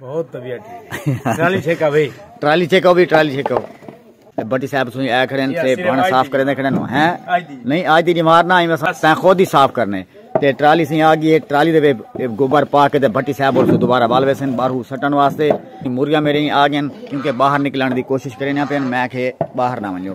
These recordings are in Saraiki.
بہت طبیعت ٹھیک ٹرالی چھکا وے ٹرالی چھکا وے ٹرالی چھکا وے بٹی صاحب سوئی آ کھڑے ہیں بھانا صاف کرے دے کھڑے نو ہیں نہیں آج دی جمار نہ آئی وسا تین خود ہی صاف کرنے تے ٹرالی سی آ گئی ہے ٹرالی دے وے گوبر پا کے تے بٹی صاحب اور دوبارہ بال وے سن باہر سٹن واسطے موریا میرے آ گئے کیونکہ باہر نکلن دی کوشش کرے نہ پین میں کہ باہر نہ ونجو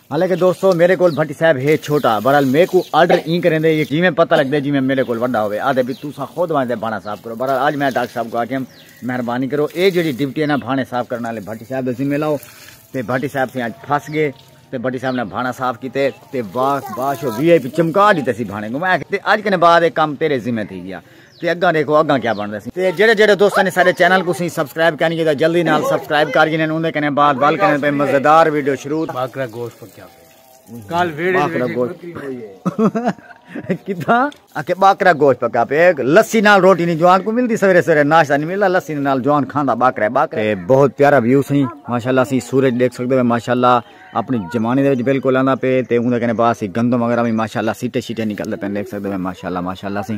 حالانکہ دوستو میڈے کول بھٹی صاحب ہے چھوٹا بہرحال میکو آرڈر ایں کریندے یہ جیویں پتہ لگدے جیویں میڈے کول وڈا ہووے آدھے بھی تساں خود ونجدے بھانہ صاف کرو بہرحال اج میں ڈاکٹر صاحب کو آکھیم مہربانی کرو اے جیڑی ڈیوٹی ہے نا بھانہ صاف کرن والے بھٹی صاحب دے ذمہ لاؤ تے بھٹی صاحب سے اج پھس گئے تے بھٹی صاحب نے بھانہ صاف کیتے تے واہ باش وی آئی پی چمکا ڈیتے سی بھانے کو میں آکھیا تے اج کنے بعد اے کم تیرے ذمہ تھی گیا تے اگاں ڈیکھو اگاں کیا بندا سی تے جڑے جڑے دوستاں نے سارے چینل کو سی سبسکرائب کینی کیتا جلدی نال سبسکرائب کر گینے اوندے کنے بعد وال کنے پہ مزیدار ویڈیو شروع باکرا گوشت پکیا پہ کال ویڑے باکرا گوشت کتا اکے باکرا گوشت پکا پہ لسی نال روٹی نہیں جوان کو ملدی سویرے سویرے ناشتہ نہیں ملدا لسی نال جوان کھاندا باکرا باکرا بہت پیارا ویو سی ماشاءاللہ سی سورج دیکھ سکدے ہو ماشاءاللہ اپنی زمانے دے وچ بالکل آندا پہ تے اوندے کنے بعد سی گندم وغیرہ بھی ماشاءاللہ سیٹے شیٹے نکلدے پہ دیکھ سکدے ہو ماشاءاللہ ماشاءاللہ سی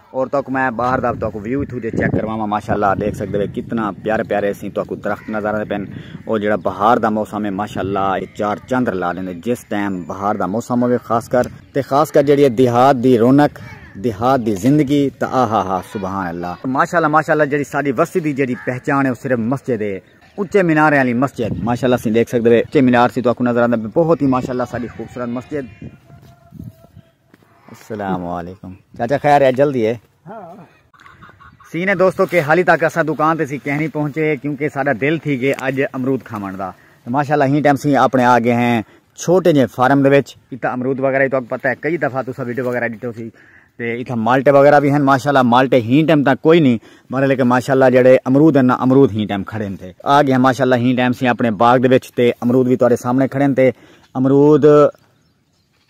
اور تو کو میں باہر دا تو کو ویو تھو دے چیک کرواواں ماشاءاللہ دیکھ سکدے ہو کتنا پیارے پیارے سی تو کو درخت نظر آندے پن او جڑا بہار دا موسم ہے ماشاءاللہ اے چار چندر لا دیندے جس ٹائم بہار دا موسم ہوے خاص کر تے خاص کر جڑی دیہات دی رونق دیہات دی زندگی تا آہا ہا سبحان اللہ ماشاءاللہ ماشاءاللہ جڑی ساڈی وستی دی جڑی پہچان ہے او صرف مسجد ہے اچے مینار والی مسجد ماشاءاللہ سی دیکھ سکدے اچے مینار سی تو کو نظر آندا بہت ہی ماشاءاللہ ساڈی خوبصورت مسجد السلام علیکم چاچا خیر ہے جلدی ہے سین ہے دوستو کہ حالی تک اسا دکان تے سی کہنی پہنچے کیونکہ ساڈا دل تھی گئے اج امرود کھاون دا ماشاءاللہ ہی ٹائم سی اپنے آ گئے ہیں چھوٹے جے فارم دے وچ ایتھا امرود وغیرہ تو پتہ ہے کئی دفعہ تسا ویڈیو وغیرہ ڈٹو سی تے ایتھا مالٹے وغیرہ بھی ہیں ماشاءاللہ مالٹے ہی ٹائم تک کوئی نہیں مگر لیکن ماشاءاللہ جڑے امرود ہیں نا امرود ہی ٹائم کھڑے ہیں تے آ گئے ہیں ماشاءاللہ ہی ٹائم سی اپنے باغ دے وچ تے امرود بھی تواڈے سامنے کھڑے ہیں تے امرود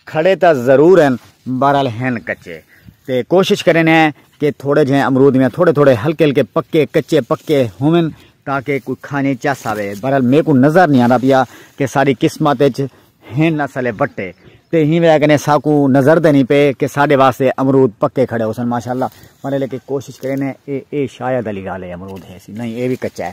کھڑے تاں ضرور ہن بہرحال ہن کچے تے کوشش کریندے ہیں کہ تھوڑے جھیں امرود ویاں تھوڑے تھوڑے ہلکے ہلکے پکے کچے پکے ہوون تاکہ کوئی کھانی چس آوے بہرحال میکوں نظر نہیں آندا پیا کہ ساڈی قسمت وچ ہن اسلے وٹے تے ہی وجہ کنے ساکوں نظر دے نہیں پے کہ ساڈے واسطے امرود پکے کھڑے ہوسن ماشاءاللہ پر لیکن کوشش کریندے ہیں اے اے شاید علی گالے امرود ہے سی نہیں اے وی کچا ہے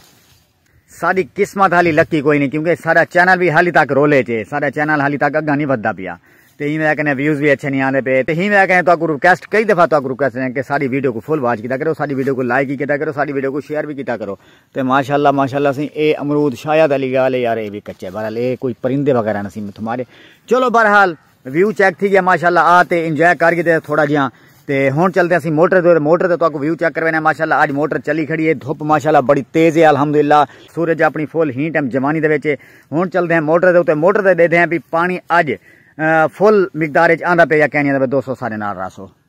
ساڈی قسمت حالی لکی کوئی نہیں کیونکہ ساڈا چینل بھی حالی تک رولے چ ہے ساڈا چینل حالی تک اگاں نہیں ودھدا پیا تے ہی وجہ کنے ویوز بھی اچھے نہیں آندے پے تے ہی وجہ کنے تہاکوں ریکویسٹ کئی دفعہ تہاکوں ریکویسٹ کریں کہ ساڈی ویڈیو کو فل واچ کیتا کرو ساڈی ویڈیو کو لائک ہی کیتا کرو ساڈی ویڈیو کو شیئر بھی کیتا کرو تے ماشاءاللہ ماشاءاللہ سی اے امرود شاید علی گال یار اے بھی کچے بہرحال اے کوئی پرندے وغیرہ نہ سی متھمارے چلو بہرحال ویو چیک تھی گیا ماشاءاللہ آ تے انجوائے کر گیتے تھوڑا جیاں تے ہن چلتے اسی موٹر دے موٹر تے تاکو ویو چیک کروینا ماشاءاللہ اج موٹر چلی کھڑی ہے دھوپ ماشاءاللہ بڑی تیز ہے الحمدللہ سورج اپنی فل ہی ٹائم جوانی دے وچ ہن چلتے ہیں موٹر دے تے موٹر تے دیکھتے ہیں بھی پانی اج فل مقدار وچ آندا پے یا کہنی ہے دوستو سارے نال راسو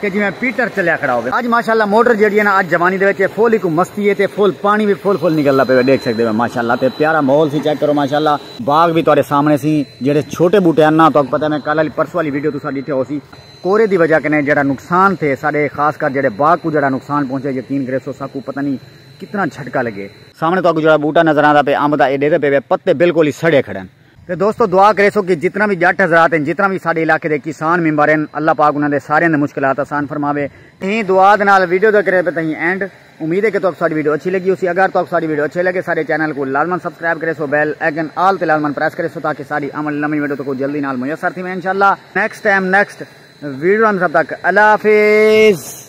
کہ جیویں پیٹر چلیا کھڑا ہووے۔ اج ماشاءاللہ موٹر جیڑھی ہے نا اج جوانی دے وچ فل ایکوں مستی ہے تے فل پانی وی فل فل نکلدا پئے ڈیکھ سکدے ہو ماشاءاللہ تے پیارا ماحول سی چیک کرو ماشاءاللہ۔ باغ وی تہاڈے سامنے سی جیڑھے چھوٹے بوٹے ہن نا تہاکوں پتہ ہے میں کل آلی پرسوں آلی ویڈیو تساں ڈیٹھے ہوسی کورے دی وجہ کنے جیڑھا نقصان تھے ساڈے خاص کر جیڑھے باغ کوں جیڑھا نقصان پہنچے یقین کریسو ساکوں پتہ نی کتنا جھٹکا لگے۔ سامنے تہاکوں جیڑھا بوٹا نظر آندا پئے امب دا اے ڈیکھدے پئے وے پتے بالکل ہی سڑے کھڑے ہن۔ تے دوستو دعا کریسو کہ جتنا وی جٹ حضرات ہن جتنا وی ساڈے علاقے دے کسان ممبر ہن اللہ پاک انہاں دے ساریاں دے مشکلات آسان فرماوے۔ ایں دعا دے نال ویڈیو دا کرے پے تہیں اینڈ۔ امید ہے کہ تہاکوں ساڈی ویڈیو اچھی لگی ہوسی۔ اگر تہاکوں ساڈی ویڈیو اچھی لگے ساڈے چینل کوں لازمن سبسکرائب کریسو بیل آئیکن آل تے لازمن پریس کریسو تاکہ ساڈی آون آلی نویں ویڈیو تہاکوں جلدی نال میسر تھیویں انشاءاللہ۔ نیکسٹ ٹائم نیکسٹ ویڈیو انت تب تک اللہ حافظ۔